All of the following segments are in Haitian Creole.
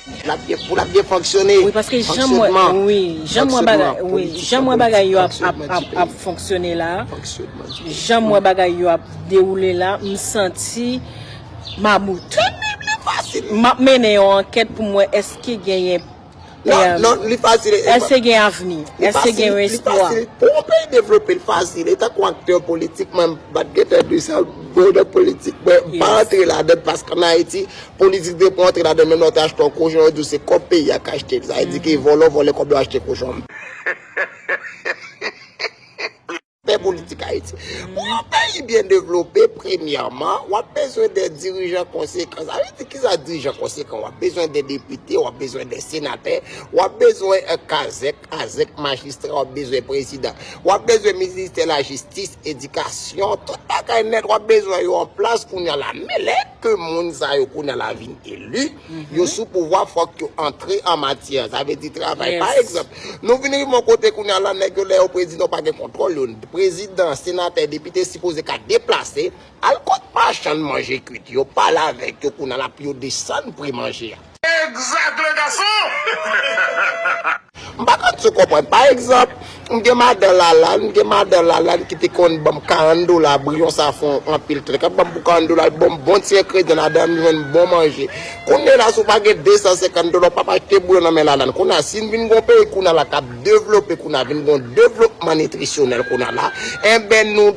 Pou l ap byen fonksyone. Wi paske jan m wè wi jan m wè bagay wi jan m wè bagay yo ap fonksyone la jan m wè bagay yo ap dewoule la m santi mamout m ap mennen yon ankèt pou m wè èske genyen èske gen avni èske gen yon espwa pou yon peyi devlope l fasil li tankou aktè politik mwen m pa t gen tan di sa m pa antre ladan l paske an Ayiti Politik de pou antre ladan menm lè w te achte yon kochon yo di w se kòb peyi a k achte l sa vle di ke vòlò vòlè kòb yo achte kochon m pè politik ayiti. Pou yon peyi byen devlope premyèman w ap bezwen de dirijan konsekan sa vle di kisa dirijan konsekan w ap bezwen de depite w ap bezwen de senatè w ap bezwen kazèk azèk majistra w ap bezwen prezidan w ap bezwen ministè lajistis edikasyon tout bagay nèt w ap bezwen yo an plas kounye a la men lè ke moun sa yo kounye la vin eli, yo sou pouvwa fòk yo antre an matyè, sa vle di travay. Pa egzanp, nou vin rive yon kote kounye la nèg yo lè yo prezidan yo pa gen kontwòl yo, prezidan, senatè, depite sipoze ka deplase al kot machann manje kwit yo, pale avèk yo kounye la pou yo desann pri manje a. Egzak le gason! M pa ka tou konprann. Pa egzanp, m gen madan Lalane, m gen madan Lalane ki te konn ban m 40 dola, briyon sa fon anpil trik. Ap ban m pou 40 dola, l ban m bon ti engredyan ladan, m jwenn bon manje. Kounye la si w pa gen 250 dola, w p ap achte briyon nan men Lalane. Kounye a, si n vin gen yon peyi kounye a la k ap devlope kounye a, vin gen yon devlopman nitrisyonèl kounye a la, enben nou.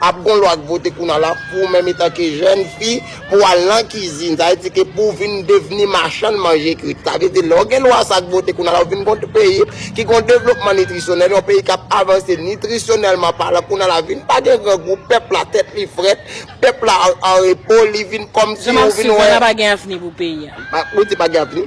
Ap gon lwa k vote kounal la pou menm etan ke jèn fi pou al nan kizin sa vle di ke pou vin devni machann manje kwit sa vle di lè w gen lwa sa k vote kounal la ou vin gon peyi ki gon devlopman nitrisyonèl yon peyi kap avanse nitrisyonèlman palan kounal la vin pa gen grangou pèp la tèt li frèt pèp la an repo li vin kòmsi ou vin wè. Jan map swiv la pa gen avni pou peyi a. Ou di pa gen avni.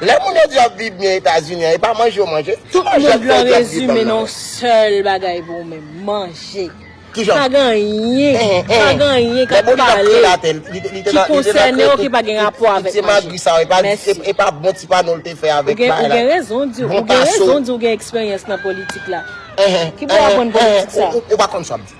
Lè moun yo di yo ap viv byen etazini an e pa manje yo manje? Tout mond lan rezime nan yon sèl bagay pou ou menm, manje. Pa gen anyen, pa gen anyen k ap pale, ki konsène w, ki pa gen rapò avèk manje. Mèsi. Ou gen rezon di ou gen eksperyans nan politik la. Ki pou w aprann politik sa?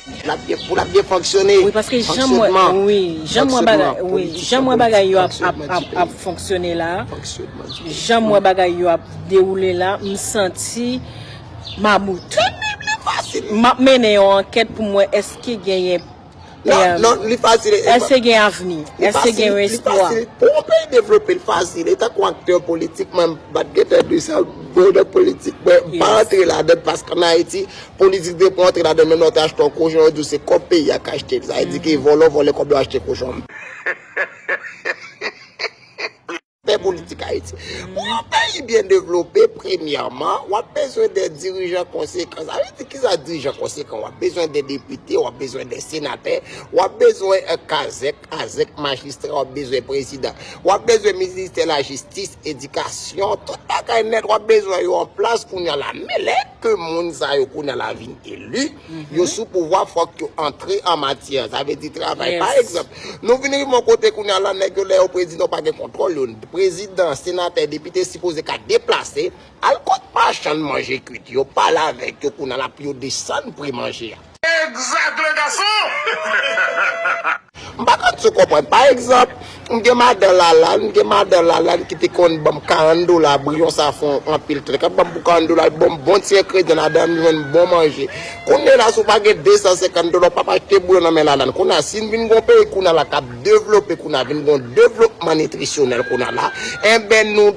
Pou l ap byen fonksyone. Wi paske jan m wè wi jan m wè bagay wi jan m wè bagay yo ap fonksyone la jan m wè bagay yo ap dewoule la m santi mabout m ap mennen yon ankèt pou m wè èske genyen èske gen avni èske gen yon espwa pou yon peyi devlope l fasil li tankou aktè politik mwen m pa t gen tan di sa m pa antre ladan l paske an Ayiti Politik de pran antre ladan menm lè w te achte yon kochon yo di w se kòb peyi a k achte l sa vle di ke vòlò vòlè kòb yo achte kochon m pè politik ayiti. Pou yon peyi byen devlope premyèman w ap bezwen de dirijan konsekan sa vle di kisa dirijan konsekan w ap bezwen de depite w ap bezwen de senatè w ap bezwen kazèk azèk majistra w ap bezwen prezidan w ap bezwen ministè lajistis edikasyon tout bagay nèt w ap bezwen yo an plas kounye a la men lè ke moun sa yo kounye la vin eli, yo sou pouvwa fòk yo antre an matyè. Sa vle di travay. Pa egzanp, nou vin rive yon kote kounye la nèg yo lè yo prezidan yo pa gen kontwòl yo. Prezidan, senatè, depite sipoze ka deplase al kot machann manje kwit yo, pale avèk yo kounye la pou yo desann pri manje a. Egzak le gason! M pa ka tou konprann. Pa egzanp, m gen madan Lalane, m gen madan Lalane ki te konn ban m 40 dola, briyon sa fon anpil trèt, l ap ban m pou 40 dola, l ban m bon ti engredyan ladan, m jwenn bon manje. Kounye la si w pa gen 250 dola, w p ap achte briyon nan men Lalane. Kounye a, si n vin gen yon peyi kounye a la k ap devlope kounye a, vin gen yon devlopman nitrisyonèl kounye a la, enben nou.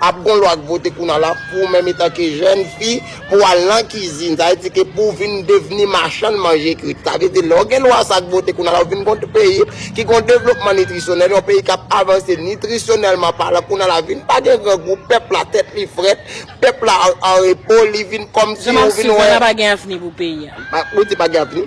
Ap gon lwa k vote kounal la pou menm etan ke jèn fi pou al nan kizin sa vle di ke pou vin devni machann manje krit sa vle di lè w gen lwa sa k vote kounal la ou vin gon peyi ki gon devlopman nitrisyonèl yon peyi kap avanse nitrisyonèlman palan kounal la vin pa gen grangou pèp la tèt li frèt pèp la an repo li vin kòmsi ou vin wè. Jean Marc Suzana pa gen avni pou peyi a. Ou di pa gen avni?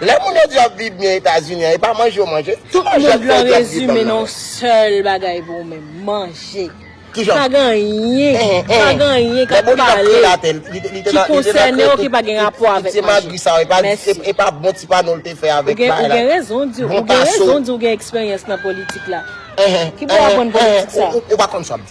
Lè moun yo di yo ap viv byen etazini an e pa manje yo manje? Tout mond lan rezime nan yon sèl bagay pou ou menm, manje. Pa gen anyen, pa gen anyen k ap pale, ki konsène w, ki pa gen rapò avèk manje. Mèsi. Ou gen rezon di ou gen eksperyans nan politik la. Ki pou w ap bann politik sa?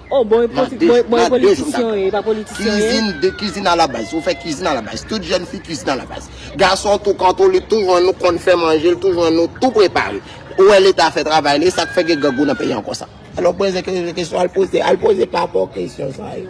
Oh bon e poti bon e bon e politisyen yo ye e pa politisyen yo ye. Cuisine de cuisine à la base ou fè cuisine à la base tout jeune fille cuisine à la base garçon tou kanto li toujou an nou konn fè manje li toujou an nou tou prepare ou wè leta fè travay li esak fè gen grangou nan peyi an konsa. Alon prezè ke kesyon al poze al poze pa bò kesyon sa yo.